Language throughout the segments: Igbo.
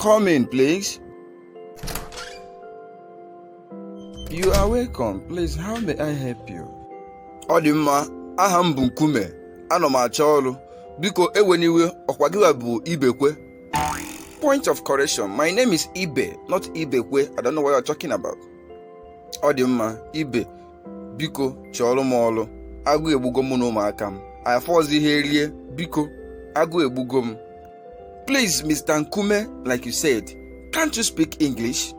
Come in, please. You are welcome. Please, how may I help you? Ọ dị mma, aha m bụ Nkume, anọ m achọ ọrụ. Biko ewena iwe ọkwa gị bụ Ibekwe. Point of correction, my name is Ibe, not Ibekwe. I don't know what you're talking about. Ọ dị mma, Ibe. biko chọọrọ m ọrụ agụ egbugo mụ na ụmụaka m afọzi ihe rie biko agụ egbugo m please mr nkume like you said can't you speak english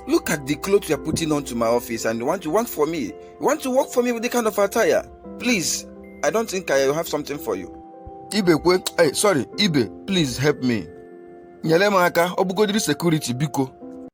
look at the clothes you are putting on to my office and you want to work for me you want to work for me with the kind of attire please i don't think i have something for you ibe kwe hey, eh, sorry ibe please help me nyere m aka ọ bụgodiri sekuriti biko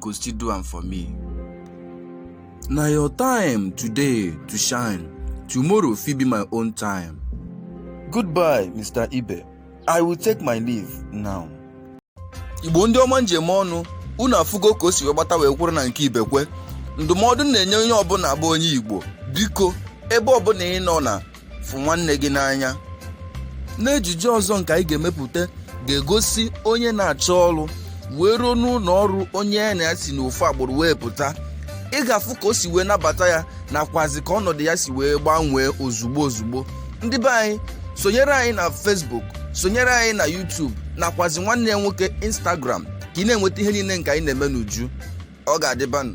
go still do am for me na your time today to shine tomorrow fit be my own time goodbye mr ibe i will take my leave now igbo ndị ọma m ji eme ọnụ unu afụgo ka o si wee gbata wee kwụrụ na nke ibekwe ndụmọdụ na-enye onye ọbụla bụ onye igbo biko ebe ọbụla ị nọ na fụ nwanne gị n'anya n'ejije ọzọ nke anyị ga-emepụta ga-egosi onye na-achọ ọrụ wee ruo n'ụlọ ọrụ onye ya na ya si n'ofu agbụrụ wee pụta ị ga-afụ ka o si wee nabata ya nakwazi ka ọnọdụ ya si wee gbanwee ozugbo ozugbo ndị be anyị sonyere anyị na Facebook sonyere anyị na YouTube nakwazi nwanne ya nwoke Instagram ka ị na-enweta ihe niile nke anyị na-eme n'uju ọ ga-adịbanụ